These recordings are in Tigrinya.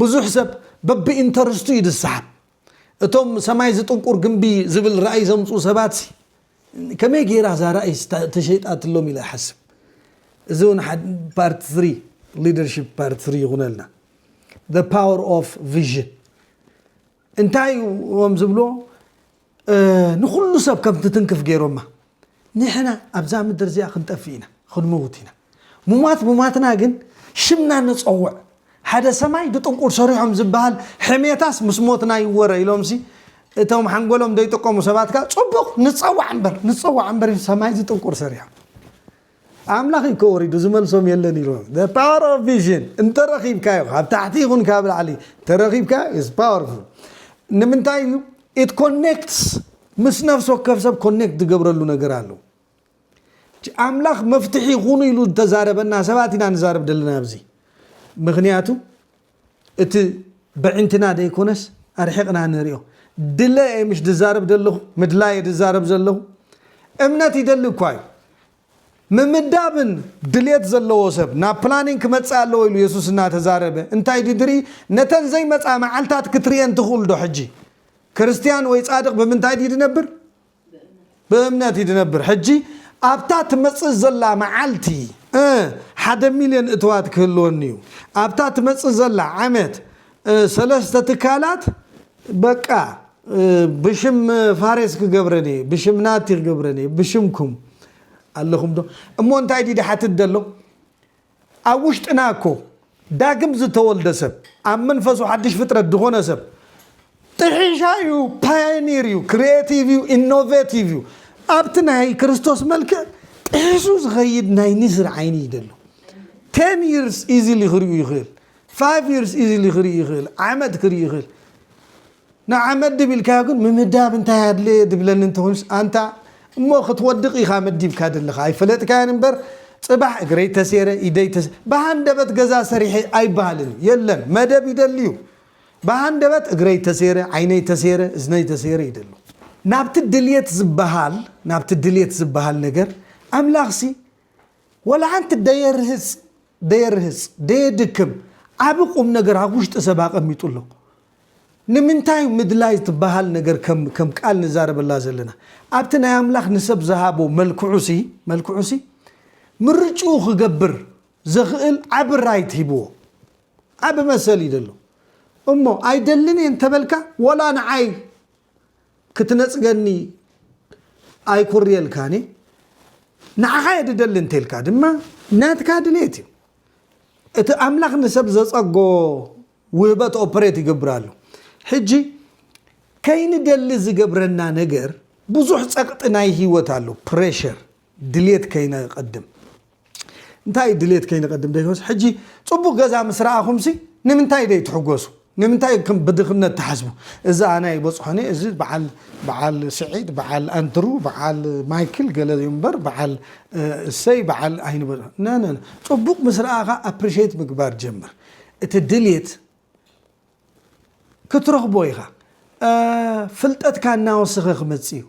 ብዙሕ ሰብ በብኢንተርስቱ እዩ ዝሰሓብ። እቶም ሰማይ ዝጥንቁር ግምቢ ዝብል ራእይ ዘምፅኡ ሰባትሲ ከመይ ገይራ እዛ ራእይስ ተሸይጣትሎም ኢለ እሓስብ። እዚ እውን ፓርት ትሪ ሊደርሺፕ ፓርት ትሪ ይኹነልና። The power of vision እንታይ እዮም ዝብሎ ንኹሉ ሰብ ከም ትትንክፍ ገይሮማ ንሕና ኣብዛ ምድር እዚኣ ክንጠፍእ ኢና ክንመውት ኢና ሙማት ሙማትና ግን ሽምና ንፀውዕ ሓደ ሰማይ ብጥንቁር ሰሪሖም ዝበሃል ሕሜታስ ምስ ሞትና ይወረ ኢሎምሲ እቶም ሓንጎሎም ዘይጥቀሙ ሰባት ከዓ ፅቡቕ ንፀዋዕ እምበር ንፀዋዕ እምበር ሰማይ ዝጥንቁር ሰሪሖም ኣምላኽ እዩ እኮ ወሪዱ ዝመልሶም የለን ኢሉ the power of vision እንተ ረኺብካዮ ካብ ታሕቲ ይኹን ካብ ላዕሊ እንተ ረኺብካዮ is powerful ንምንታይ እዩ it connects ምስ ነፍሲ ወከፍ ሰብ ኮኔክት ዝገብረሉ ነገር ኣሎ ኣምላኽ መፍትሒ ይኹኑ ኢሉ ዝተዛረበና ሰባት ኢና ንዛረብ ዘለና ኣብዚ ምክንያቱ እቲ በዒንትና ደይኮነስ ኣርሒቅና ንሪኦ ድለ እየ ምሽ ድዛረብ ደለኹ ምድላይ እየ ድዛረብ ዘለኹ እምነት ይደሊ እኳ እዩ ምምዳብን ድልየት ዘለዎ ሰብ ናብ ፕላኒንግ ክመፅእ ኣለዎ ኢሉ የሱስ እናተዛረበ እንታይ ድዩ ድርኢ ነተን ዘይመፃ መዓልታት ክትርእየን ትኽእልዶ ሕጂ ክርስትያን ወይ ፃድቅ ብምንታይ ድዩ ድነብር ብእምነት እዩ ዝነብር ሕጂ ኣብታ ትመጽእ ዘላ መዓልቲ እ ሓደ ሚልዮን እትዋት ክህልወኒ እዩ ኣብታ ትመጽእ ዘላ ዓመት እ ሰለስተ ትካላት በቃ እ ብሽም ፋሬስ ክገብረን እየ ብሽም ናቲ ክገብረን እየ ብሽምኩም ኣለኹም ዶ እሞ እንታይ ድዩ ድሓትት ዘሎ ኣብ ውሽጥና እኮ ዳግም ዝተወልደ ሰብ ኣብ መንፈሱ ሓድሽ ፍጥረት ዝኾነ ሰብ ጥሒሻ እዩ፣ ፓዮኒር እዩ፣ ክሪኤቲቭ እዩ፣ ኢኖቬቲቭ እዩ። ኣብቲ ናይ ክርስቶስ መልክዕ ጥሒሱ ዝኸይድ ናይ ንስር ዓይኒ እዩ ዘሎ። ቴን ይርስ ኢዚሊ ክሪኡ ይኽእል፣ ፋይቭ ይርስ ኢዚሊ ክርኢ ይኽእል፣ ዓመት ክርኢ ይኽእል። ንዓ መድብ ኢልካዮ ግን ምምዳብ እንታይ ኣድለየ ድብለኒ እንተኾይኑስ ኣንታ እሞ ክትወድቅ ኢኻ መዲብካ ደለኻ ኣይፈለጥካዮን እምበር ጽባሕ እግረይ ተሴረ ኢደይ ተሰ ብሃንደበት ገዛ ሰሪሐ ኣይበሃልን እዩ የለን መደብ ይደሊ እዩ ብሃንደበት እግረይ ተሴረ ዓይነይ ተሴረ እዝነይ ተሴረ ይደሉ ናብቲ ድልየት ዝበሃል ናብቲ ድልየት ዝበሃል ነገር ኣምላኽሲ ወላ ሓንቲ ደየርህጽ ደየርህጽ ደየድክም ዓቢ ቁምነገር ኣብ ውሽጢ ሰብ ኣቐሚጡ ኣሎ ንምንታይ ምድላይ ዝትበሃል ነገር ከም ከም ቃል ንዛረበላ ዘለና? ኣብቲ ናይ ኣምላኽ ንሰብ ዝሃቦ መልክዑሲ መልክዑሲ ምርጭኡ ክገብር ዘኽእል ዓቢ ራይት ሂብዎ ዓቢ መሰል እዩ ዘሎ። እሞ ኣይደልን እየ እንተበልካ ወላ ንዓይ ክትነጽገኒ ኣይኩርየልካን እየ ንዓኻ እየ ድደሊ እንተልካ ድማ ናትካ ድሌት እዩ። እቲ ኣምላኽ ንሰብ ዘጸጎ ውህበት ኦፕሬት ይገብር ኣሎ ሕጂ ከይንደሊ ዝገብረና ነገር ብዙሕ ጸቕጢ ናይ ህይወት ኣሎ ፕሬሸር ድሌት ከይነቐድም እንታይ እዩ ድሌት ከይነቐድም ደይኮስ ሕጂ ጽቡቕ ገዛ ምስ ረኣኹምሲ ንምንታይ ደይ ትሕጎሱ ንምንታይ ከም ብድኽነት ትሓስቡ እዚ ኣነ ይበፅሖኒ እዚ በዓል በዓል ስዒድ በዓል ኣንትሩ በዓል ማይክል ገለ እዩ እምበር በዓል እሰይ በዓል ኣይንበ ነነ ፅቡቅ ምስ ረኣኻ ኣፕሪሽት ምግባር ጀምር እቲ ድሌት ክትረኽቦ ኢኻ ፍልጠትካ እናወሰኸ ክመጽእ እዩ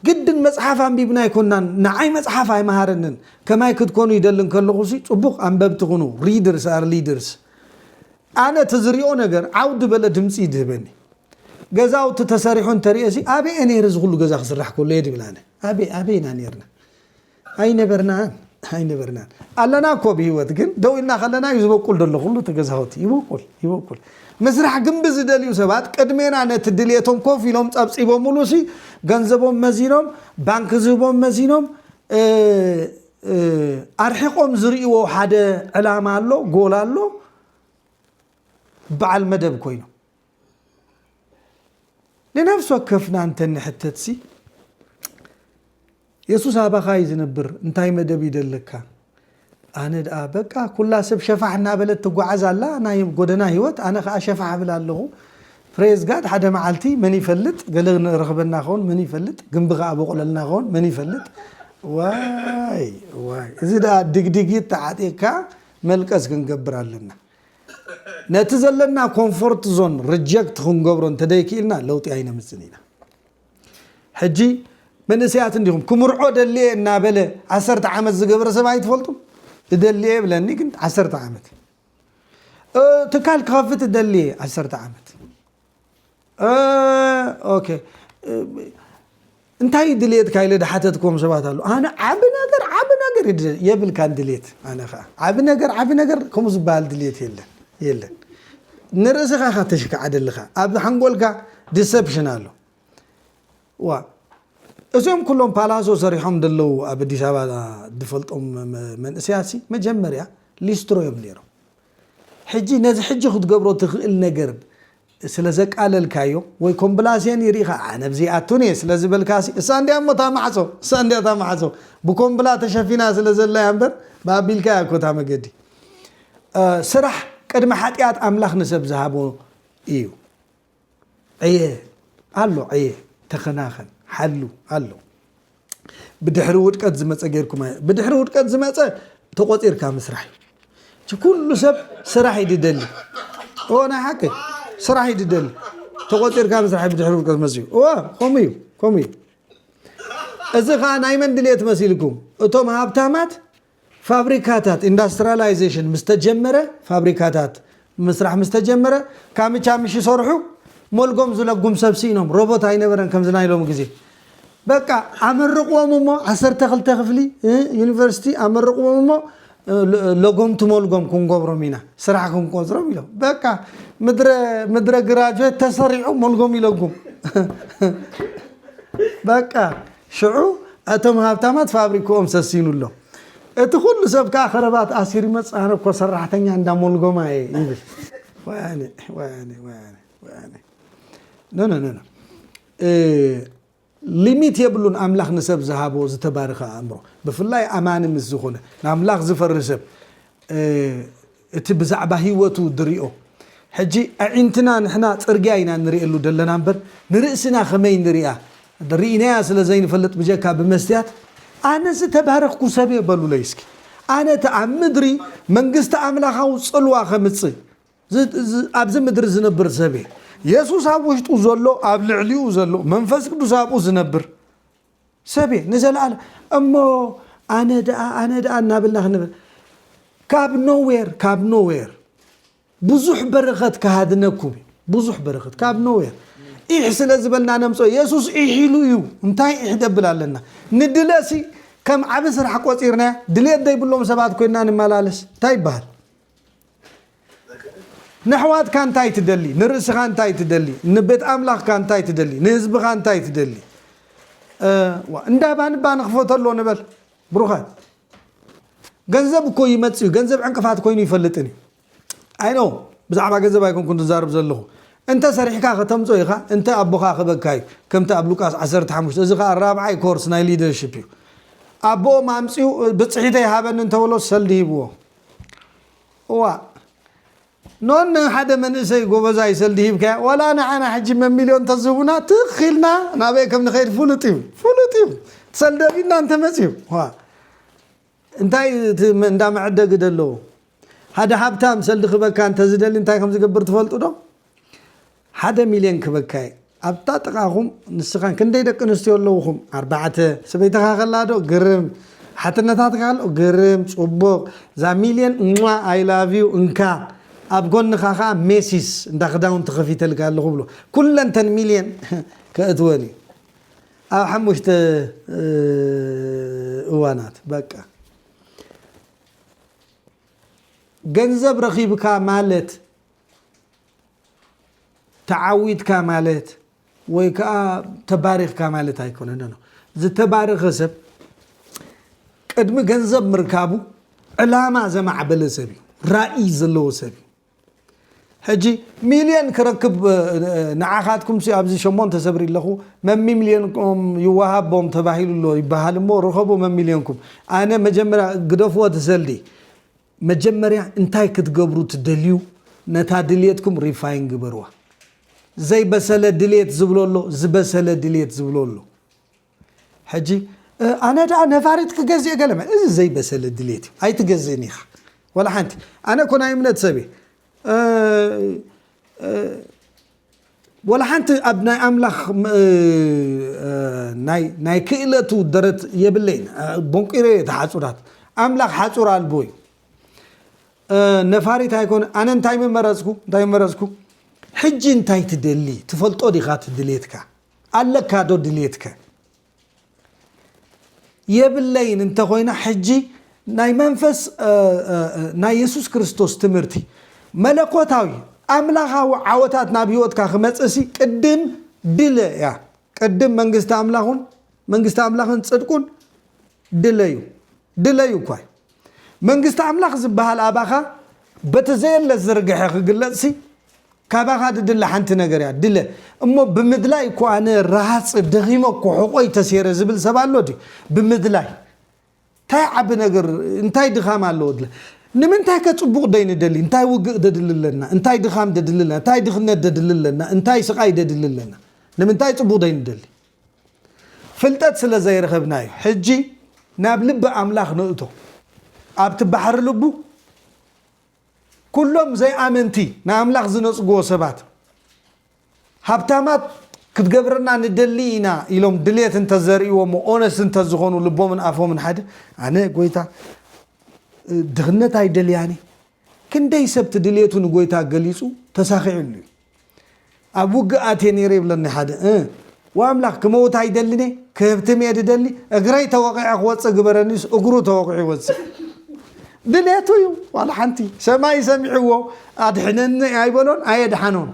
ግድን መጽሓፍ ኣንቢብና ኣይኮናን ንዓይ መጽሓፍ ኣይመሃረንን ከማይ ክትኮኑ ይደሊ እንከለኹ ሲ ጽቡቕ ኣንበብቲ ኩኑ ሪድርስ ኣር ሊድርስ ኣነ እቲ ዝሪኦ ነገር ዓውዲ በለ ድምፂ ይድህበኒ ገዛውቲ ተሰሪሑ እንተሪኦ ሲ ኣበየ ነይረ እዚ ኩሉ ገዛ ክስራሕ ከሎ እየ ድብል ኣነ ኣበይ ኣበይና ነርና ኣይነበርናን ኣይነበርናን ኣለና እኮ ብሂወት ግን ደው ኢልና ከለና እዩ ዝበቁል ዘሎ ኩሉ እቲ ገዛውቲ ይበቁል ይበቁል ምስራሕ ግንቢ ዝደልዩ ሰባት ቅድሜና ነቲ ድሌቶም ኮፍ ኢሎም ጸብጺቦምሉ ሲ ገንዘቦም መዚኖም ባንኪ ዝህቦም መዚኖም ኣርሒቆም ዝርእዎ ሓደ ዕላማ ኣሎ ጎል ኣሎ በዓል መደብ ኮይኑ ንነፍሲ ወከፍና እንተ ንሕተትሲ፣ የሱስ ኣባኻ እዩ ዝነብር፣ እንታይ መደብ ይደለካ? ኣነ ደኣ በቃ ኩላ ሰብ ሸፋሕ እናበለት ትጓዓዝ ኣላ ናይ ጎደና ህይወት፣ ኣነ ከዓ ሸፋሕ እብል ኣለኹ። ፕሬዝ ጋድ ሓደ መዓልቲ መን ይፈልጥ ገለ ንረኽበና ኸውን መን ይፈልጥ ግንቢ ከዓ በቑለልና ኸውን መን ይፈልጥ ዋይ ዋይ እዚ ደኣ ድግድጊት ተዓጢቕካ መልቀስ ክንገብር ኣለና። ነቲ ዘለና ኮንፎርት ዞን ርጀክት ክንገብሮ እንተደይክኢልና ለውጢ ኣይነምፅን ኢና። ሕጂ መንእሰያት እንዲኹም ክምርዖ ደልየ እናበለ ዓሰርተ ዓመት ዝገበረ ሰብ ኣይትፈልጡ እደልየ ብለኒ ግን ዓሰርተ ዓመት ትካል ክኸፍት እደልየ ዓሰርተ ዓመት እንታይ እዩ ድልየትካ ኢለ ዝሓተትክዎም ሰባት ኣለዉ። ኣነ ዓቢ ነገር ዓቢ ነገር እዩ ድልየት የብልካን ድልየት ኣነ ከዓ ዓቢ ነገር ዓቢ ነገር ከምኡ ዝበሃል ድልየት የለን የለን ንርእስኻ ኢኻ ተሽከዓደልኻ ኣብ ሓንጎልካ ዲሰፕሽን ኣሎ ዋ እዚኦም ኩሎም ፓላሶ ሰሪሖም ደለዉ ኣብ ኣዲስ ኣበባ ዝፈልጦም መንእሰያት መጀመርያ ሊስትሮ እዮም ነይሮም ሕጂ ነዚ ሕጂ ክትገብሮ ትኽእል ነገር ስለ ዘቃለልካዮ ወይ ኮምብላሴን ይርኢኻ ኣነ ብዘይ ኣቱን እየ ስለ ዝበልካሲ እሳ እንድያ እሞ እታ ማዕጾ እሳ እንድያ እታ ማዕጾ ብኮምብላ ተሸፊና ስለ ዘላ እያ እምበር ብኣቢልካ እያ እኮ እታ መገዲ ስራሕ ቅድሚ ሓጢኣት ኣምላኽ ንሰብ ዝሃቦ እዩ። ዕየ ኣሎ ዕየ ተኸናኸን ሓሉ ኣሎ ብድሕሪ ውድቀት ዝመፀ ጌርኩም ኣየ ብድሕሪ ውድቀት ዝመፀ ተቆፂርካ ምስራሕ እዩ ኩሉ ሰብ ስራሕ እዩ ድደሊ እዎ ናይ ሓቂ ስራሕ እዩ ድደሊ ተቆፂርካ ምስራሕ እዩ ብድሕሪ ውድቀት መፅኡ እዎ ከምኡ እዩ ከምኡ እዩ እዚ ከዓ ናይ መን ድልየት መሲልኩም እቶም ሃብታማት ፋብሪካታት ኢንዳስትራላይዜሽን ምስ ተጀመረ፣ ፋብሪካታት ምስራሕ ምስ ተጀመረ፣ ካምቻ ምሽ ይሰርሑ፣ ሞልጎም ዝለጉም ሰብ ስኢኖም፣ ሮቦት ኣይነበረን ከምዚ ናይ ሎሚ ግዜ። በቃ ኣመርቕዎም እሞ ዓሰርተ ክልተ ክፍሊ ዩኒቨርሲቲ ኣመርቕዎም እሞ ለጎምቲ ሞልጎም ክንገብሮም ኢና፣ ስራሕ ክንቆጽሮም ኢሎም። በቃ ምድረ ምድረ ግራጁዌት ተሰሪዑ ሞልጎም ይለጉም። በቃ ሽዑ እቶም ሃብታማት ፋብሪክኦም ሰሲኑ ኣሎ። እቲ ኩሉ ሰብ ከኣ ከረባት ኣሲሩ ይመጽእ ኣነ እኮ ሰራሕተኛ እንዳ ሞልጎማ እየ ይብል። ወያነ ወያነ ወያነ ወያነ ኖ ኖ ኖ ሊሚት የብሉን ኣምላኽ ንሰብ ዝሃቦ ዝተባረኸ ኣእምሮ ብፍላይ ኣማኒ ምስ ዝኾነ ንኣምላኽ ዝፈሪ ሰብ እቲ ብዛዕባ ህይወቱ ድሪኦ ሕጂ ኣዒንትና ንሕና ጽርግያ ኢና ንሪኤሉ ደለና እምበር ንርእስና ከመይ ንሪኣ ሪኢናያ ስለ ዘይንፈልጥ ብጀካ ብመስትያት ኣነ ዝተባረኽኩ ሰብ እየ በሉለይ እስኪ ኣነ እቲ ኣብ ምድሪ መንግስቲ ኣምላኻዊ ጽልዋ ከምጽእ ኣብዚ ምድሪ ዝነብር ሰብ እየ። የሱስ ኣብ ውሽጡ ዘሎ ኣብ ልዕሊኡ ዘሎ መንፈስ ቅዱስ ኣብኡ ዝነብር ሰብ እየ ንዘለኣለም እሞ ኣነ ደኣ ኣነ ደኣ እናበልና ክንብል ካብ ኖዌር ካብ ኖዌር ብዙሕ በረኸት ክሃድነኩም እዩ ብዙሕ በረኸት ካብ ኖዌር ኢሕ ስለ ዝበልና ነምጾ የሱስ ኢሕ ኢሉ እዩ እንታይ ኢሕ ደብል ኣለና ንድለሲ ከም ዓብ ስራሕ ቆጺርናያ ድሌት ዘይብሎም ሰባት ኮይንና ንመላለስ እንታይ ይበሃል ነሕዋትካ እንታይ ትደሊ ንርእስኻ እንታይ ትደሊ ንቤት ኣምላኽካ እንታይ ትደሊ ንህዝብኻ እንታይ ትደሊ ዋ እንዳ ባንባ ንክፈተሎ ንበል ብሩኻት ገንዘብ እኮ ይመፅ እዩ ገንዘብ ዕንቅፋት ኮይኑ ይፈልጥን እዩ ኣይኖ ብዛዕባ ገንዘብ ኣይኮንኩ ዝዛርብ ዘለኹ እንተ ሰሪሕካ ከተምፆ ኢኻ እንተ ኣቦኻ ክበካ እዩ ከምቲ ኣብ ሉቃስ 15 እዚ ከዓ ራብዓይ ኮርስ ናይ ሊደርሽፕ እዩ ኣቦኦም ኣምፅኡ ብፅሒተ ይሃበኒ እንተበሎ ሰልዲ ሂብዎ እዋእ ኖን ንሓደ መንእሰይ ጎበዛይ ሰልዲ ሂብካዮ ዋላ ንዓና ሕጂ መሚልዮን ተዝህቡና ትኽ ኢልና ናበይ ከም ንኸይድ ፍሉጥ እዩ ፍሉጥ እዩ ሰልዲ ቢድና እንተመፅዩ እንታይ እንዳ መዐደጊ ዘለዎ ሓደ ሃብታም ሰልዲ ክበካ እንተዝደሊ እንታይ ከም ዝገብር ትፈልጡ ዶ ሓደ ሚልዮን ክበካየ ኣብታ ጥቃኹም ንስኻን ክንደይ ደቂ ኣንስትዮ ኣለውኹም ኣርባዕተ ሰበይትኻ ከላ ዶ ግርም ሓትነታትካ ኣሎ ግርም ጽቡቅ እዛ ሚልዮን እሟ ኣይ ላቭ ዩ እንካ ኣብ ጎንኻ ከኣ ሜሲስ እንዳ ክዳውንቲ ከፊተልካ ኣለኹ ብሎ ኩለን ተን ሚልዮን ከእትወን እዩ ኣብ ሓሙሽተ እዋናት በቃ ገንዘብ ረኺብካ ማለት ተዓዊትካ ማለት ወይ ከኣ ተባሪኽካ ማለት ኣይኮነን ኣሎ። ዝተባረኸ ሰብ ቅድሚ ገንዘብ ምርካቡ ዕላማ ዘማዕበለ ሰብ እዩ፣ ራኢ ዘለዎ ሰብ እዩ። ሕጂ ሚልዮን ክረክብ ንዓኻትኩም ሲ ኣብዚ ሸሞንተ ሰብሪ ኣለኹ መሚልዮንኩም ይወሃቦም ተባሂሉ ኣሎ ይበሃል እሞ ርኸቡ መሚልዮንኩም ኣነ መጀመርያ ግደፍዎ ትሰልዲ መጀመርያ እንታይ ክትገብሩ ትደልዩ ነታ ድልየትኩም ሪፋይን ግበርዋ ዘይበሰለ ድልየት ዝብሎ ኣሎ ዝበሰለ ድልየት ዝብሎ ኣሎ ሕጂ ኣነ ደኣ ነፋሪት ክገዝእ ገለ እዚ ዘይበሰለ ድልየት እዩ ኣይትገዝእን ኢኻ ወላ ሓንቲ ኣነ እኮ ናይ እምነት ሰብ እየ ወላ ሓንቲ ኣብ ናይ ኣምላኽ ናይ ክእለቱ ደረት የብለይን ቦንቂረ እየ ተሓጹራት ኣምላኽ ሓጹር ኣልቦ እዩ ነፋሪት ኣይኮነ ኣነ እንታይ ምመረጽኩ እንታይ መረጽኩ ሕጂ እንታይ ትደሊ ትፈልጦ ዲኻ ትድልየትካ ኣለካ ዶ ድልየትከ የብለይን እንተ ኾይና ሕጂ ናይ መንፈስ ናይ የሱስ ክርስቶስ ትምህርቲ መለኮታዊ ኣምላኻዊ ዓወታት ናብ ህይወትካ ክመጽእሲ ቅድም ድለ እያ ቅድም መንግስቲ ኣምላኹን መንግስቲ ኣምላኽን ጽድቁን ድለዩ ድለዩ እኳ መንግስቲ ኣምላኽ ዝበሃል ኣባኻ በቲ ዘየለ ዝርግሐ ክግለጽሲ ካባኻ ድድለ ሓንቲ ነገር እያ ድለ እሞ ብምድላይ እኮ ኣነ ረሃጽ ደኺመ እኮ ሕቆይ ተሴረ ዝብል ሰብ ኣሎ ድዩ ብምድላይ እንታይ ዓቢ ነገር እንታይ ድኻም ኣለዎ ድለ ንምንታይ ከ ጽቡቕ ደይ ንደሊ እንታይ ውግእ ደድሊ ኣለና እንታይ ድኻም ደድሊ ኣለና እንታይ ድኽነት ደድሊ ኣለና እንታይ ስቓይ ደድሊ ኣለና ንምንታይ ጽቡቕ ደይ ንደሊ ፍልጠት ስለ ዘይረኸብና እዩ። ሕጂ ናብ ልቢ ኣምላኽ ንእቶ። ኣብቲ ባሕሪ ልቡ ኩሎም ዘይኣመንቲ ንኣምላኽ ዝነጽግዎ ሰባት ሃብታማት ክትገብረና ንደሊ ኢና ኢሎም ድሌት እንተ ዘርእይዎሞ ኦነስት እንተ ዝኾኑ ልቦምን ኣፎምን ሓደ ኣነ ጎይታ ድኽነት ኣይደልያን ክንደይ ሰብቲ ድሌቱ ንጎይታ ገሊጹ ተሳኺዕሉ እዩ። ኣብ ውግእ ኣትየ ነይረ ይብለኒ ሓደ እ ዋምላኽ ክመውት ኣይደልን እየ ክህብትም እየ ድደሊ እግረይ ተወቒዐ ክወፅእ ግበረኒስ እግሩ ተወቒዑ ይወፅእ ድሌቱ እዩ ዋላ ሓንቲ ሰማይ ሰሚዕዎ ኣድሕነኒ ኣይበሎን ኣየድሓኖን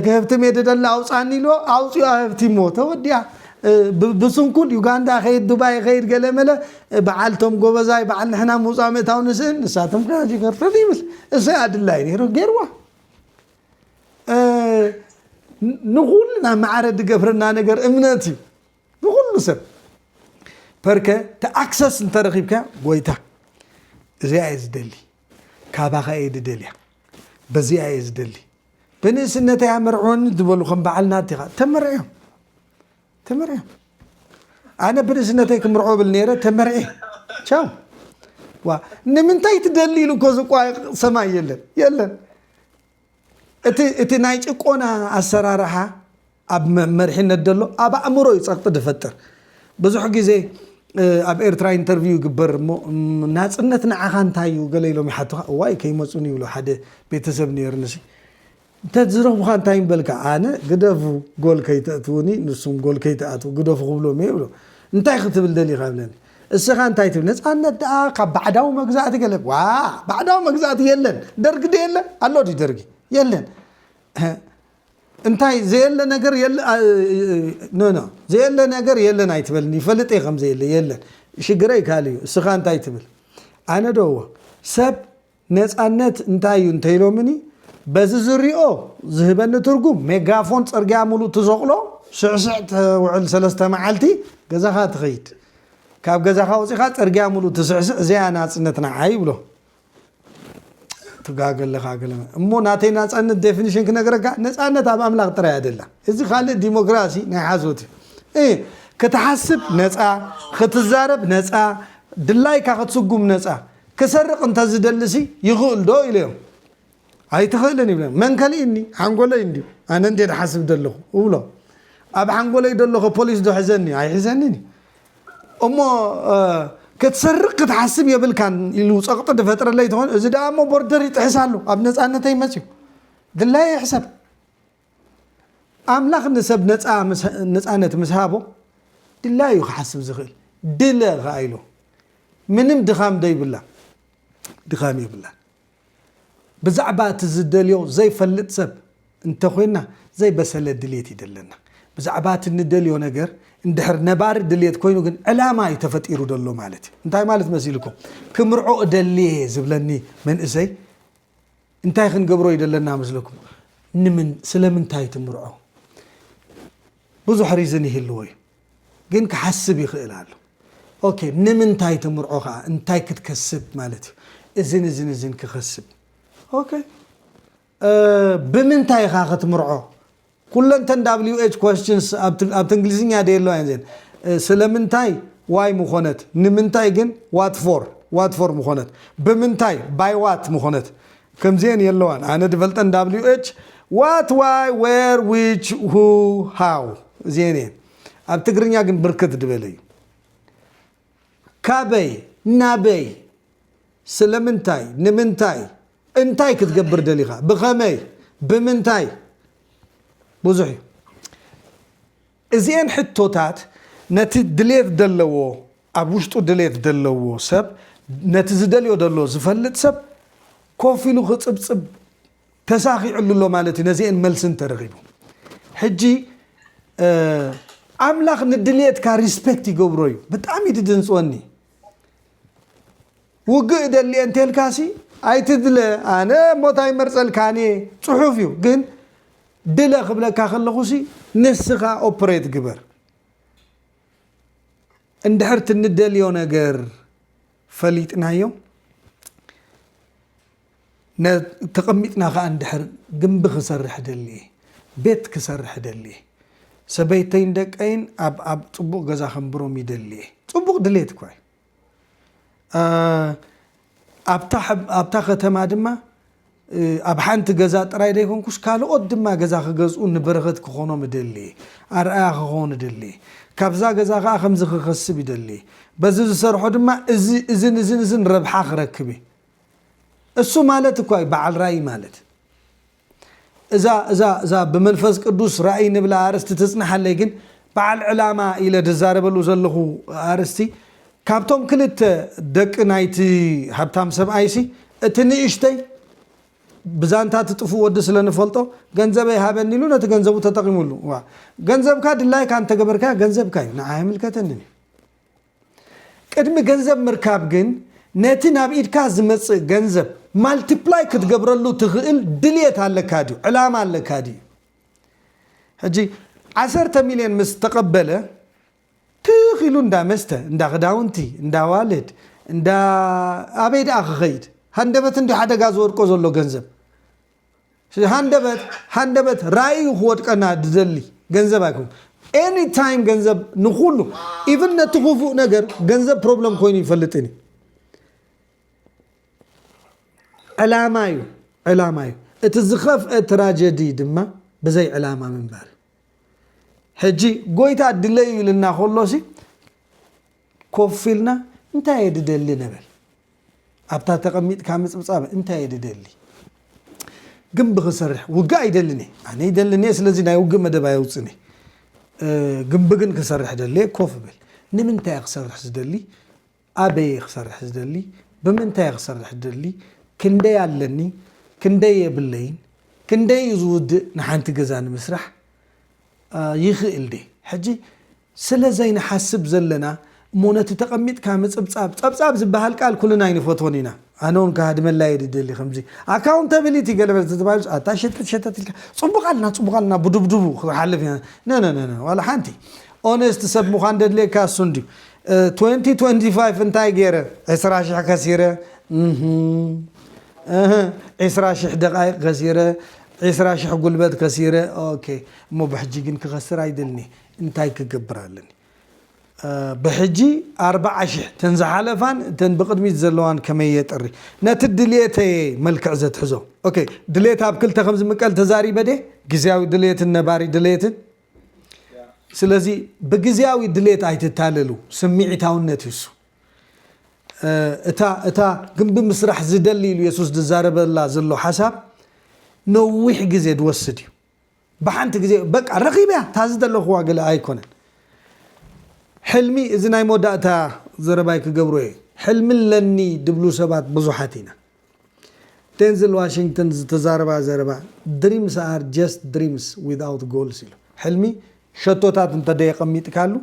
ክህብትም እየ ድደሊ ኣውፃኒ ኢልዎ ኣውፅኡ ኣህብቲሞ ተወዲኣ ብስንኩል ዩጋንዳ ከይድ ዱባይ ከይድ ገለመለ በዓል ቶም ጎበዛይ በዓል ንሕና ምውፃእ ምእታው ንስእን ንሳቶም ከያጅ ገርተት ይብል እሰይ ኣድላይ ነይሩ ገይርዋ ንኹልና ማዕረ ዝገብረና ነገር እምነት እዩ ንኹሉ ሰብ ፐርከ ተኣክሰስ እንተረኺብካ ጎይታ እዚኣ እየ ዝደሊ ካባኸ እየ ዝደልያ በዚኣ እየ ዝደሊ ብንእስነተይ ኣመርዕወኒ ዝበሉ ከም በዓል ናቲኻ ተመርዕዮም ተመርዕዮም ኣነ ብርእስነተይ ክምርዖ ብል ነይረ ተመርዔ ቻው ዋ ንምንታይ ትደሊ ኢሉ እኮ ዝቋየቕ ሰማይ የለን የለን እቲ ናይ ጭቆና ኣሰራርሓ ኣብ መርሒነት ደሎ ኣብ ኣእምሮ እዩ ፀቕጢ ድፈጥር ብዙሕ ግዜ ኣብ ኤርትራ ኢንተርቪው ይግበር እሞ ናፅነት ንዓኻ እንታይ እዩ ገለ ኢሎም ይሓቱኻ እዋይ ከይመፁኒ ይብሎ ሓደ ቤተሰብ ነይርንሲ እንተ ዝረኹኻ እንታይ ምበልካ? ኣነ ግደፉ ጎል ከይተእትዉኒ ንሱም ጎል ከይትኣትዉ ግደፉ ክብሎም እየ እብሎ። እንታይ ክትብል ደሊኻ እብለኒ። እስኻ እንታይ ትብል ነጻነት ደኣ ካብ ባዕዳዊ መግዛእቲ ገለ ዋእ ባዕዳዊ መግዛእቲ የለን ደርጊ ዶ የለ ኣሎ ድዩ ደርጊ የለን እንታይ ዘየለ ነገር የለ ኖኖ ዘየለ ነገር የለን ኣይትበልኒ ይፈልጥ እየ ከምዘየለ የለን ሽግረይ ካልእ እዩ እስኻ እንታይ ትብል ኣነ ዶ እዎ ሰብ ነጻነት እንታይ እዩ እንተ ኢሎምኒ፣ በዚ ዝሪኦ ዝህበኒ ትርጉም፣ ሜጋፎን ጽርግያ ምሉእ ትሰቕሎ፣ ስዕስዕ ተውዕል ሰለስተ መዓልቲ ገዛኻ ትኸይድ። ካብ ገዛኻ ወጺኻ ጽርግያ ምሉእ ትስዕስዕ እዚኣ ናጽነት ንዓይ ይብሎ። ትጋገ ኣለኻ ገለ እሞ ናተይ ናጻነት ዴፊኒሽን ክነግረካ፣ ነጻነት ኣብ ኣምላኽ ጥራይ እያ ደላ። እዚ ካልእ ዲሞክራሲ ናይ ሓሶት እዩ። ክትሓስብ ነጻ፣ ክትዛረብ ነጻ፣ ድላይካ ክትስጉም ነጻ። ክሰርቕ እንተ ዝደሊሲ ይኽእልዶ ኢለዮም። ኣይትኽእልን ይብለኒ። መን ከልኢኒ? ሓንጎለይ እንድዩ። ኣነ እንድየ ዝሓስብ ዘለኹ እብሎ። ኣብ ሓንጎለይ ደሎኸ ፖሊስዶ ሕዘኒ? ኣይሕዘንን እዩ። እሞ ክትሰርቕ ክትሓስብ የብልካን ኢሉ ጸቕጢ ዝፈጥረለይ ተኾይኑ እዚ ደኣ እሞ ቦርደር ይጥሕስ ኣሎ ኣብ ነጻነተይ መጽዩ ድላየ ይሕሰብ ኣምላኽ ንሰብ ነጻ ነጻነት ምስ ሃቦ ድላዩ እዩ ክሓስብ ዝኽእል ድለ ከኣ ኢሉ ምንም ድኻም ዶ ይብላ ድኻም የብላን ብዛዕባ እቲ ዝደልዮ ዘይፈልጥ ሰብ እንተኾይና ዘይበሰለ ድሌት እዩ ደለና ብዛዕባ እቲ ንደልዮ ነገር እንድሕር ነባሪ ድሌት ኮይኑ ግን ዕላማ እዩ ተፈጢሩ ደሎ ማለት እዩ እንታይ ማለት መሲልኩም ክምርዖ እደልየ ዝብለኒ መንእሰይ እንታይ ክንገብሮ እዩ ዘለና መስለኩም? ንምን ስለምንታይ ትምርዖ? ብዙሕ ሪዝን ይህልዎ እዩ፣ ግን ክሓስብ ይኽእል ኣሎ። ኦኬ ንምንታይ ትምርዖ ከዓ እንታይ ክትከስብ ማለት እዩ፣ እዝን እዝን እዝን ክኸስብ። ኦኬ ብምንታይ ኢኻ ክትምርዖ? ኩለን ተን WH questions ኣብቲ እንግሊዝኛ ደየለዋ እየን እዚኤን ስለምንታይ why ምኾነት ንምንታይ ግን what for what for ምኾነት ብምንታይ by what ምኾነት ከምዚኤን የለዋን ኣነ ድፈልጠን WH what why where which who how እዚኤን እየን ኣብ ትግርኛ ግን ብርክት ድበለ እዩ ካበይ ናበይ ስለምንታይ ንምንታይ እንታይ ክትገብር ደሊኻ ብኸመይ ብምንታይ ብዙሕ እዩ እዚኤን ሕቶታት ነቲ ድሌት ደለዎ ኣብ ውሽጡ ድሌት ደለዎ ሰብ ነቲ ዝደልዮ ደሎ ዝፈልጥ ሰብ ኮፍ ኢሉ ክፅብፅብ ተሳኺዕሉ ኣሎ ማለት እዩ ነዚኤን መልሲ እንተረኺቡ ሕጂ ኣምላኽ ንድልየትካ ሪስፔክት ይገብሮ እዩ ብጣዕሚ ድድንፅወኒ ውግእ እደሊ እየ እንተልካሲ ኣይትድለ ኣነ ሞት ኣይመርፀልካን እየ ፅሑፍ እዩ ግን ድለ ክብለካ ከለኹሲ ንስኻ ኦፕሬት ግበር እንድሕር ትንደልዮ ነገር ፈሊጥናዮ ተቐሚጥና ከዓ እንድሕር ግንቢ ክሰርሕ ደሊ እየ ቤት ክሰርሕ ደሊ እየ ሰበይተይን ደቀይን ኣብ ኣብ ፅቡቕ ገዛ ከንብሮም ይደሊ እየ ፅቡቕ ድሌት እኳ እዩ ኣብታ ከተማ ድማ ኣብ ሓንቲ ገዛ ጥራይ ዘይኮንኩስ ካልኦት ድማ ገዛ ክገዝኡ ንበረኸት ክኾኖም እደሊ እየ። ኣርኣያ ክኸውን እደሊ እየ። ካብዛ ገዛ ከኣ ከምዚ ክኸስብ ይደሊ እየ። በዚ ዝሰርሖ ድማ እዚ እዝን እዝን እዝን ረብሓ ክረክብ እየ። እሱ ማለት እኳ እዩ በዓል ራእይ ማለት። እዛ እዛ እዛ ብመንፈስ ቅዱስ ራእይ ንብላ ኣርእስቲ ትጽናሓለይ ግን በዓል ዕላማ ኢለ ድዛረበሉ ዘለኹ ኣርእስቲ ካብቶም ክልተ ደቂ ናይቲ ሃብታም ሰብኣይሲ እቲ ንእሽተይ ብዛንታ እቲ ጥፉእ ወዲ ስለ ንፈልጦ ገንዘበይ ሃበኒ ኢሉ ነቲ ገንዘቡ ተጠቒሙሉ። እዋ ገንዘብካ ድላይካ እንተገበርካዮ ገንዘብካ እዩ ንዓይ ኣይምልከተንን እዩ። ቅድሚ ገንዘብ ምርካብ ግን ነቲ ናብ ኢድካ ዝመጽእ ገንዘብ ማልቲፕላይ ክትገብረሉ ትኽእል ድልየት ኣለካ ድዩ ዕላማ ኣለካ ድዩ ሕጂ ዓሰርተ ሚልዮን ምስ ተቐበለ ትኽ ኢሉ እንዳ መስተ እንዳ ክዳውንቲ እንዳ ዋልድ እንዳ ኣበይ ደኣ ክኸይድ ሃንደበት እንዲ ሓደጋ ዝወድቆ ዘሎ ገንዘብ ሃንደበት ሃንደበት ራእዩ ክወድቀና ዝደሊ ገንዘብ ኣይኮን ኤኒ ታይም ገንዘብ ንኩሉ ኢቭን ነቲ ክፉእ ነገር ገንዘብ ፕሮብለም ኮይኑ ይፈልጥን እዩ ዕላማ እዩ ዕላማ እዩ እቲ ዝኸፍአ ትራጀዲ ድማ ብዘይ ዕላማ ምንባር ሕጂ ጎይታ ድለዩ ኢልና ከሎሲ ኮፍ ኢልና እንታይ እየ ድደሊ ንበል። ኣብታ ተቐሚጥካ ምጽብጻብ እንታይ እየ ድደሊ? ግንቢ ክሰርሕ ውግእ ኣይደልን እየ። ኣነ ይደልን እየ ስለዚ ናይ ውግእ መደብ ኣየውጽእን እየ። ግንቢ ግን ክሰርሕ ደሊ እየ ኮፍ እብል። ንምንታይ እየ ክሰርሕ ዝደሊ? ኣበይ እየ ክሰርሕ ዝደሊ? ብምንታይ እየ ክሰርሕ ዝደሊ? ክንደይ ኣለኒ? ክንደይ የብለይን? ክንደይ እዩ ዝውድእ ንሓንቲ ገዛ ንምስራሕ? ይኽእል ድየ? ሕጂ ስለ ዘይንሓስብ ዘለና እሞ ነቲ ተቀሚጥካ ምጽብጻብ ጸብጻብ ዝብሃል ቃል ኩልና ኣይንፈትዎን ኢና ኣነ ውን ክሃድመላ እየ ድደሊ ከምዚ ኣካውንተብሊቲ ገለ መለ ተተባሂሉስ ኣታ ሸተት ሸተት ኢልካ ጽቡቅ ኣልና ጽቡቅ ኣልና ብዱብዱቡ ክሓልፍ ኢና ነነነነ ዋላ ሓንቲ ኦነስት ሰብ ምዃን ደድልየካ እሱ እንድዩ ትወንቲ ትወንቲ ፋይፍ እንታይ ገይረ ዕስራ ሽሕ ከሲረ እህ እህ ዕስራ ሽሕ ደቃይቅ ከሲረ ዕስራ ሽሕ ጉልበት ከሲረ ኦኬ እሞ ብሕጂ ግን ክኸስር ኣይደልን እየ እንታይ ክገብር ኣለኒ ብሕጂ ኣርብዓ ሽሕ እተን ዝሓለፋን እተን ብቅድሚት ዘለዋን ከመይ የጥሪ ነቲ ድልየተይ እየ መልክዕ ዘትሕዞ ok ድልየት ኣብ ክልተ ከም ዝምቀል ተዛሪበ ድየ ግዝያዊ ድልየትን ነባሪ ድልየትን ስለዚ ብግዝያዊ ድልየት ኣይትታለሉ ስምዒታውነት እዩ እሱ እታ እታ ግንቢ ምስራሕ ዝደሊ ኢሉ የሱስ ዝዛረበላ ዘሎ ሓሳብ ነዊሕ ግዜ ዝወስድ እዩ ብሓንቲ ግዜ በቃ ረኺበያ እታ ዝደለኽዋ ገለ ኣይኮነን ሕልሚ እዚ ናይ መወዳእታ ዘረባይ ክገብሮ እየ ሕልሚ ኣለኒ ድብሉ ሰባት ብዙሓት ኢና ዴንዝል ዋሽንግተን ዝተዛረባ ዘረባ ድሪምስ ኣር ጀስት ድሪምስ ዊዝኣውት ጎልስ ኢሉ ሕልሚ ሸቶታት እንተደየቐሚጥካሉ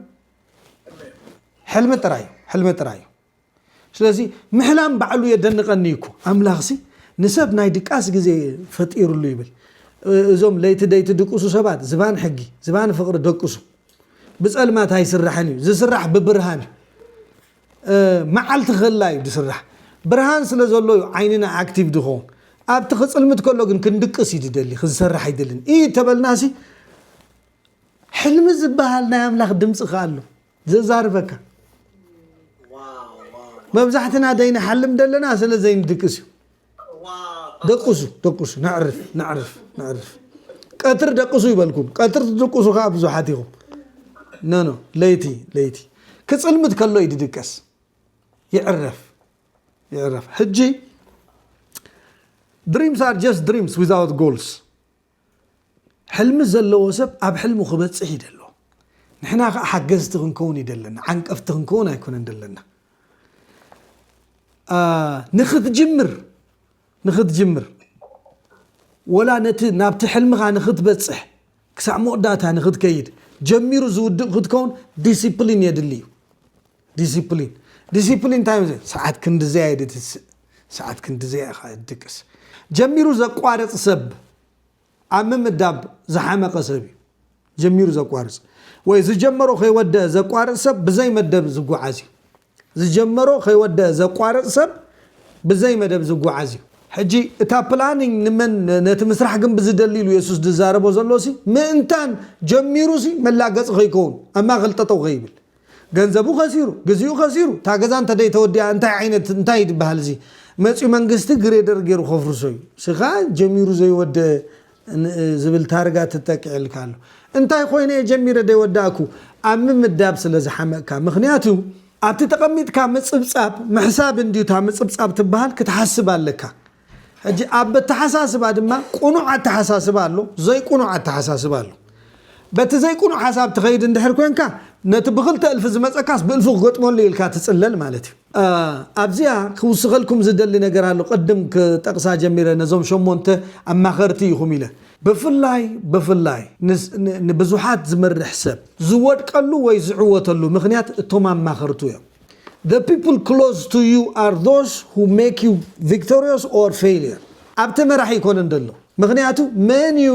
ሕልሚ ጥራይ እዩ ሕልሚ ጥራይ እዩ ስለዚ ምሕላም ባዕሉ የደንቀኒ እዩ እኮ ኣምላኽሲ ንሰብ ናይ ድቃስ ግዜ ፈጢርሉ ይብል እዞም ለይቲ ደይቲ ድቅሱ ሰባት ዝባን ሕጊ ዝባን ፍቅሪ ደቅሱ ብፀልማት ኣይስራሕን እዩ ዝስራሕ ብብርሃን እዩ መዓልቲ ክላ እዩ ዝስራሕ ብርሃን ስለ ዘሎ እዩ ዓይንና ኣክቲቭ ዝኸውን ኣብቲ ክፅልምት ከሎ ግን ክንድቅስ እዩ ዝደሊ ክንሰርሕ ኣይደልን እዩ ተበልናሲ ሕልሚ ዝበሃል ናይ ኣምላኽ ድምፂ ከ ኣሎ ዘዛርበካ መብዛሕትና ዘይንሓልም ዘለና ስለ ዘይንድቅስ እዩ ደቅሱ ደቅሱ ነዕርፍ ነዕርፍ ነዕርፍ ቀትር ደቅሱ ይበልኩም ቀትር ትድቅሱ ከዓ ብዙሓት ኢኹም ነኖ ለይቲ ለይቲ ክፅልምት ከሎ እዩ ድድቀስ ይዕረፍ ይዕረፍ ሕጂ ድሪምስ ኣር ጀስት ድሪምስ ዊዛውት ጎልስ ሕልሚ ዘለዎ ሰብ ኣብ ሕልሙ ክበጽሕ ይደሎ ንሕና ከኣ ሓገዝቲ ክንከውን ይደለና ዓንቀፍቲ ክንከውን ኣይኮነን ደለና ንክትጅምር ንክትጅምር ወላ ነቲ ናብቲ ሕልምኻ ንክትበፅሕ ክሳዕ መወዳእታ ንክትከይድ ጀሚሩ ዝውድእ ክትከውን ዲስፕሊን የድሊ እዩ ዲሲፕሊን ዲሲፕሊን እንታይ እዩ? ሰዓት ክንድዘያ እዩ ድትስእ ሰዓት ክንድዘያ ኢኻ ድቅስ። ጀሚሩ ዘቋርፅ ሰብ ኣብ ምምዳብ ዝሓመቐ ሰብ እዩ። ጀሚሩ ዘቋርፅ ወይ ዝጀመሮ ከይወደአ ዘቋርፅ ሰብ ብዘይ መደብ ዝጓዓዝ እዩ። ዝጀመሮ ከይወደአ ዘቋርፅ ሰብ ብዘይ መደብ ዝጓዓዝ እዩ። ሕጂ እታ ፕላኒንግ ንመን ነቲ ምስራሕ ግን ብዝደሊ ኢሉ የሱስ ዝዛረቦ ዘሎ ሲ ምእንታን ጀሚሩ ሲ መላገፂ ከይከውን ኣብ ማእኸል ጠጠው ከይብል ገንዘቡ ከሲሩ ግዚኡ ከሲሩ እታ ገዛ እንተደይ ተወዲኣ እንታይ ዓይነት እንታይ እዩ ዝበሃል እዚ መፅዩ መንግስቲ ግሬደር ገይሩ ከፍርሶ እዩ ስኻ ጀሚሩ ዘይወደ ዝብል ታርጋ ትተኪዕልካ ኣሎ እንታይ ኮይነ እየ ጀሚረ ደይወዳእኩ ኣብ ምምዳብ ስለ ዝሓመቅካ ምክንያቱ ኣብቲ ተቀሚጥካ ምፅብፃብ ምሕሳብ እንድዩ እታ ምፅብፃብ ትበሃል ክትሓስብ ኣለካ ሕጂ ኣብ ኣተሓሳስባ ድማ ቁኑዕ ኣተሓሳስባ ኣሎ ዘይቁኑዕ ኣተሓሳስባ ኣሎ በቲ ዘይቁኑዕ ሓሳብ ትኸይድ እንድሕር ኮንካ ነቲ ብክልተ እልፊ ዝመጸካስ ብእልፉ ክገጥመሉ ኢልካ ትጽለል ማለት እዩ። ኣብዚኣ ክውስኸልኩም ዝደሊ ነገር ኣሎ ቅድም ክጠቅሳ ጀሚረ ነዞም ሸሞንተ ኣማኸርቲ ኢኹም ኢለ ብፍላይ ብፍላይ ንብዙሓት ዝመርሕ ሰብ ዝወድቀሉ ወይ ዝዕወተሉ ምኽንያት እቶም ኣማኸርቱ እዮም። The people close to you are those who make you victorious or failure ኣብቲ መራሒ ኣይኮነን ዘሎ ምኽንያቱ መን እዩ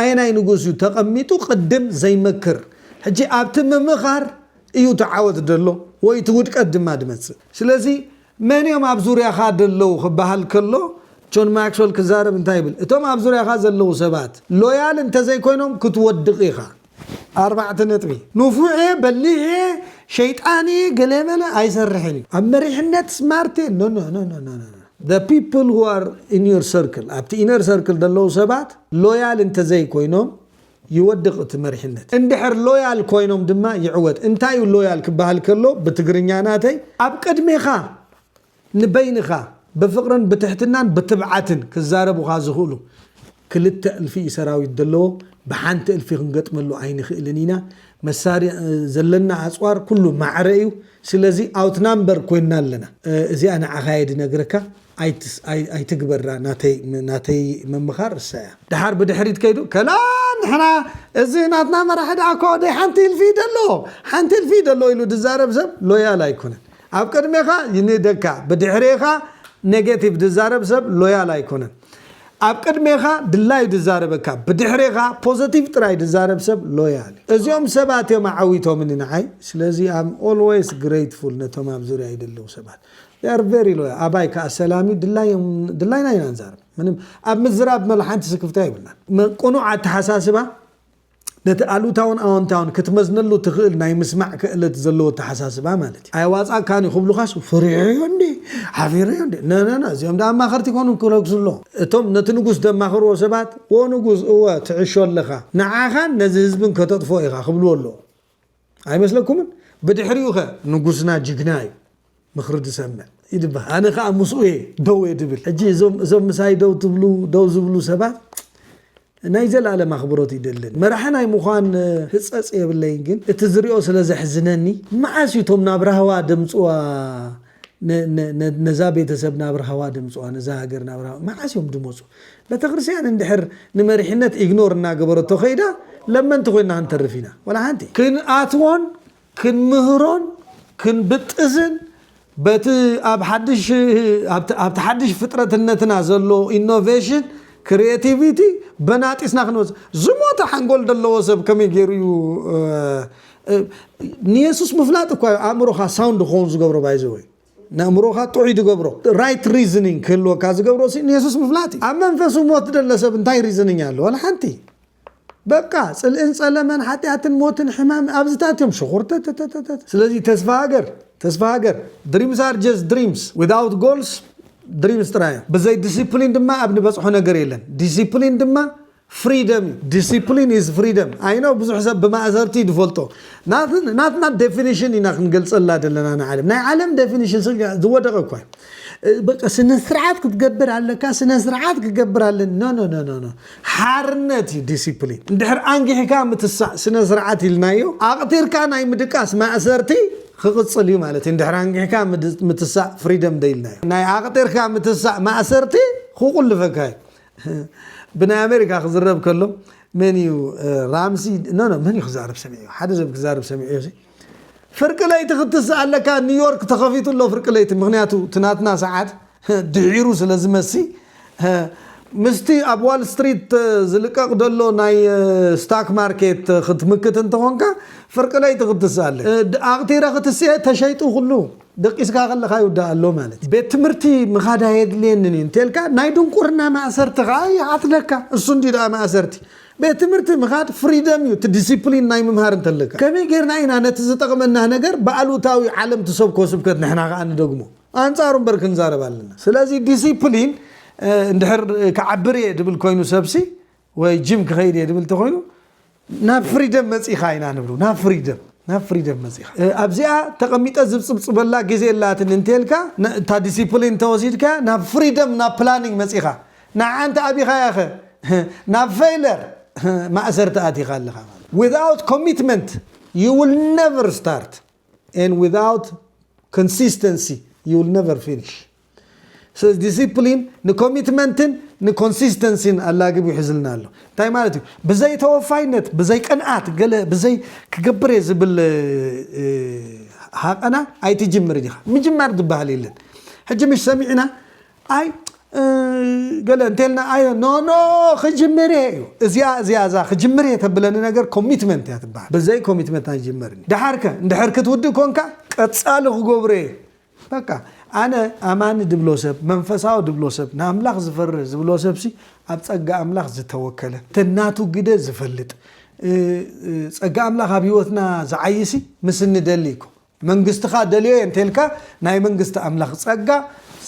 ኣየናይ ንጉስ እዩ ተቐሚጡ ቅድም ዘይመክር ሕጂ ኣብቲ ምምኻር እዩ እቲ ዓወት ዘሎ ወይ እቲ ውድቀት ድማ ድመጽእ ስለዚ መን እዮም ኣብ ዙርያኻ ደለዉ ክበሃል ከሎ ጆን ማክስወል ክዛረብ እንታይ ይብል እቶም ኣብ ዙርያኻ ዘለዉ ሰባት ሎያል እንተዘይኮይኖም ክትወድቕ ኢኻ። ኣርባዕተ ነጥቢ። ንፉዔ በሊሔ ሸይጣንየ ገለመለ ኣይሰርሕን እዩ። ኣብ መሪሕነት ስማርቴ ኖኖኖኖኖኖ። The people who are in your circle ኣብቲ inner circle ዘለዉ ሰባት ሎያል እንተዘይኮይኖም ይወድቕ እቲ መሪሕነት። እንድሕር ሎያል ኮይኖም ድማ ይዕወት። እንታይ እዩ ሎያል ክበሃል ከሎ ብትግርኛ ናተይ? ኣብ ቅድሜኻ ንበይንኻ ብፍቕርን ብትሕትናን ብትብዓትን ክዛረቡኻ ዝኽእሉ ክልተ እልፊ እዩ ሰራዊት ደለዎ ብሓንቲ እልፊ ክንገጥመሉ ኣይንኽእልን ኢና መሳሪ ዘለና ኣጽዋር ኩሉ ማዕረ እዩ ስለዚ ኣውት ናምበር ኮይንና ኣለና እዚኣ ንዓኻ እየ ድነግረካ ኣይትግበራ ናተይ ምምኻር እሳ እያ። ደሓር ብድሕሪት ከይዱ ከላ ንሕና እዚ ናትና መራሒ ደኣ እኮ ደይ ሓንቲ እልፊ እዩ ደለዎ ሓንቲ እልፊ እዩ ደለዎ ኢሉ ድዛረብ ሰብ ሎያል ኣይኮነን ኣብ ቅድሜኻ ይንእደካ ብድሕሬኻ ኔጌቲቭ ድዛረብ ሰብ ሎያል ኣይኮነን ኣብ ቅድሜኻ ድላዩ ድዛረበካ ብድሕሬኻ ፖዘቲቭ ጥራይ ድዛረብ ሰብ ሎያል እዩ እዚኦም ሰባት እዮም ኣዐዊቶምኒ ንዓይ ስለዚ ኣም ኦልወይስ ግረይትፉል ነቶም ኣብ ዙርያይ ደለዉ ሰባት they are very loyal ኣባይ ከኣ ሰላም እዩ ድላዮም ድላይና ኢና ንዛረብ ምንም ኣብ ምዝራብ መላ ሓንቲ ስክፍታ የብልናን ቅኑዕ ኣተሓሳስባ ነቲ ኣሉታውን ኣወንታውን ክትመዝነሉ ትኽእል ናይ ምስማዕ ክእለት ዘለዎ ኣተሓሳስባ ማለት እዩ። ኣየዋጽኣካን እዩ ክብሉኻስ ፈሪሐዮ እንዴ ሓፊረዮ እንዴ ነነነ እዚኦም ደኣ ኣማኸርቲ ኮኑ ክረግሱ ኣለዉ። እቶም ነቲ ንጉስ ዘማኽርዎ ሰባት ዎንጉስ እወ ትዕሾ ኣለኻ ንዓኻን ነዚ ህዝብን ከተጥፍኦ ኢኻ ክብልዎ ኣለዉ። ኣይመስለኩምን ብድሕሪኡኸ ንጉስና ጅግና እዩ ምኽሪ ድሰምዕ ይድበ ኣነ ከኣ ምስኡ እየ ደው እየ ድብል ሕጂ እዞም ምሳይ ደው ትብሉ ደው ዝብሉ ሰባት ናይ ዘላለም ኣኽብሮት ይደልን መራሒ ናይ ምዃን ህጸጽ የብለይን ግን እቲ ዝሪኦ ስለ ዘሕዝነኒ መዓስ እዩ እቶም ናብ ራህዋ ደምጽዋ ነዛ ቤተሰብ ናብ ራህዋ ደምጽዋ ነዛ ሃገር ናብ ራህዋ መዓስ እዮም ድመጹ በተክርስቲያን እንድሕር ንመሪሕነት ኢግኖር እናገበረቶ ከይዳ ለመንቲ ኮይና ክንተርፍ ኢና ወላ ሓንቲ ክንኣትዎን ክንምህሮን ክንብጥስን በቲ ኣብ ሓድሽ ኣብቲ ሓድሽ ፍጥረትነትና ዘሎ ኢኖቬሽን ክሪኤቲቪቲ በናጢስና ክንወጽእ ዝሞተ ሓንጎል ደለዎ ሰብ ከመይ ገይሩ እዩ ንየሱስ ምፍላጥ እኳ እዩ ኣእምሮኻ ሳውንድ ክኸውን ዝገብሮ ባይዘወይ ንእምሮኻ ጥዑይ ዝገብሮ ራይት ሪዝኒንግ ክህልወካ ዝገብሮ ሲ ንየሱስ ምፍላጥ እዩ ኣብ መንፈሱ ሞት ደለ ሰብ እንታይ ሪዝኒንግ ኣሎ ዋላ ሓንቲ በቃ ፅልእን ፀለመን ሓጢኣትን ሞትን ሕማም ኣብዚታት እዮም ሽኹርተተተተተ ስለዚ ተስፋ ሃገር ተስፋ ሃገር ድሪምስ ኣር ጀስት ድሪምስ ዊዛውት ጎልስ ድሪምስ ጥራይ እዮም ብዘይ ዲሲፕሊን ድማ ኣብ ንበፅሖ ነገር የለን ዲሲፕሊን ድማ ፍሪደም እዩ ዲሲፕሊን ኢዝ ፍሪደም ኣይ ኖው ብዙሕ ሰብ ብማእሰርቲ እዩ ዝፈልጦ ናትና ዴፊኒሽን ኢና ክንገልፀላ ዘለና ንዓለም ናይ ዓለም ዴፊኒሽን ዝወደቐ እኳ በቃ ስነ ስርዓት ክትገብር ኣለካ ስነ ስርዓት ክገብር ኣለን ኖ ኖ ኖ ኖ ሓርነት እዩ ዲሲፕሊን እንድሕር ኣንጊሕካ ምትሳእ ስነ ስርዓት ኢልናዮ ኣቕቲርካ ናይ ምድቃስ ማእሰርቲ ክቕፅል እዩ ማለት እዩ እንድሕር ኣንጊሕካ ምትሳእ ፍሪደም ደኢልናዮ ናይ ኣቕጢርካ ምትሳእ ማእሰርቲ ክቑልፈካ እዩ ብናይ ኣሜሪካ ክዝረብ ከሎ መን እዩ ራምሲ ኖ ኖ መን እዩ ክዛረብ ሰሚዑ ሓደ ሰብ ክዛረብ ሰሚዑ እዚ ፍርቂ ለይቲ ክትስእ ኣለካ ኒውዮርክ ተኸፊቱ ኣሎ ፍርቂ ለይቲ ምክንያቱ እቲ ናትና ሰዓት ድሒሩ ስለ ዝመሲ ምስቲ ኣብ ዋል ስትሪት ዝልቀቕ ዘሎ ናይ ስታክ ማርኬት ክትምክት እንተኾንካ ፍርቂ ለይቲ ክትስእ ኣለ ኣቕቲረ ክትስኤ ተሸይጡ ኩሉ ደቂስካ ከለኻ ይውዳእ ኣሎ ማለት እዩ። ቤት ትምህርቲ ምኻድ ኣየድልየንን እዩ እንተልካ ናይ ድንቁርና ማእሰርቲ ከኣ ይኣትለካ። እሱ እንድዩ ደኣ ማእሰርቲ። ቤት ትምህርቲ ምኻድ ፍሪደም እዩ፣ እቲ ዲሲፕሊን ናይ ምምሃር እንተለካ። ከመይ ጌርና ኢና ነቲ ዝጠቕመና ነገር ብኣሉታዊ ዓለም ትሰብኮ ስብከት ንሕና ከኣ ንደግሞ? ኣንጻሩ እምበር ክንዛረብ ኣለና። ስለዚ ዲሲፕሊን እንድሕር ክዓብር እየ ድብል ኮይኑ ሰብሲ ወይ ጅም ክኸይድ እየ ድብል ተኾይኑ ናብ ፍሪደም መፂኻ ኢና ንብሉ ናብ ፍሪደም ናብ ፍሪደም መፂኻ ኣብዚኣ ተቐሚጠ ዝብፅብፅበላ ግዜ ኣላትን እንተልካ እታ ዲሲፕሊን እንተወሲድካ ናብ ፍሪደም ናብ ፕላኒንግ መፂኻ ንዓ እንተ ኣቢኻያ ኸ ናብ ፌይለር ማእሰርቲ ኣቲኻ ኣለኻ ማለት without commitment you will never start and without consistency you will never finish ስለዚ ዲሲፕሊን ንኮሚትመንትን ንኮንሲስተንሲን ኣላግብ ይሕዝልና ኣሎ እንታይ ማለት እዩ ብዘይ ተወፋይነት ብዘይ ቅንኣት ገለ ብዘይ ክገብር እየ ዝብል ሃቐና ኣይትጅምር ዲኻ ምጅማር ዝበሃል የለን ሕጂ ምሽ ሰሚዕና ኣይ ገለ እንተልና ኣዮ ኖኖ ክጅምር እየ እዩ እዚኣ እዚኣ እዛ ክጅምር እየ ተብለኒ ነገር ኮሚትመንት እያ ትበሃል ብዘይ ኮሚትመንት ኣይጅመርን ድሓርከ እንድሕር ክትውድእ ኮንካ ቀፃሊ ክገብሮ እየ በቃ ኣነ ኣማኒ ድብሎ ሰብ መንፈሳዊ ድብሎ ሰብ ንኣምላኽ ዝፈርህ ዝብሎ ሰብሲ ኣብ ጸጋ ኣምላኽ ዝተወከለ ተናቱ ግደ ዝፈልጥ ጸጋ ኣምላኽ ኣብ ህይወትና ዝዓይሲ ምስ እንደሊ እኮ መንግስትኻ ደልዮ እየ እንተልካ ናይ መንግስቲ ኣምላኽ ጸጋ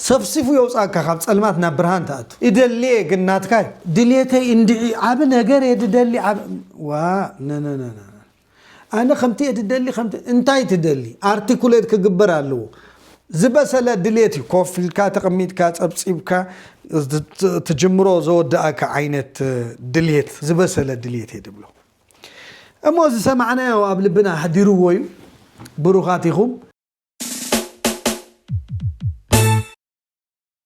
ሰፍሲፉ የውጻካ ካብ ጸልማት ናብ ብርሃን ትኣቱ እደሊ እየ ግን ናትካ ድሌተይ እንድዒ ዓቢ ነገር እየ ድደሊ ዋ ነነነነ ኣነ ከምቲ እየ ትደሊ ከምቲ እንታይ ትደሊ ኣርቲኩሌት ክግበር ኣለዎ ዝበሰለ ድሌት እዩ ኮፍ ኢልካ ተቐሚጥካ ጸብጺብካ ትጅምሮ ዘወዳእካ ዓይነት ድሌት ዝበሰለ ድሌት እየ ድብሎ እሞ ዝሰማዕናዮ ኣብ ልብና ኣሕዲርዎ እዩ ብሩኻት ኢኹም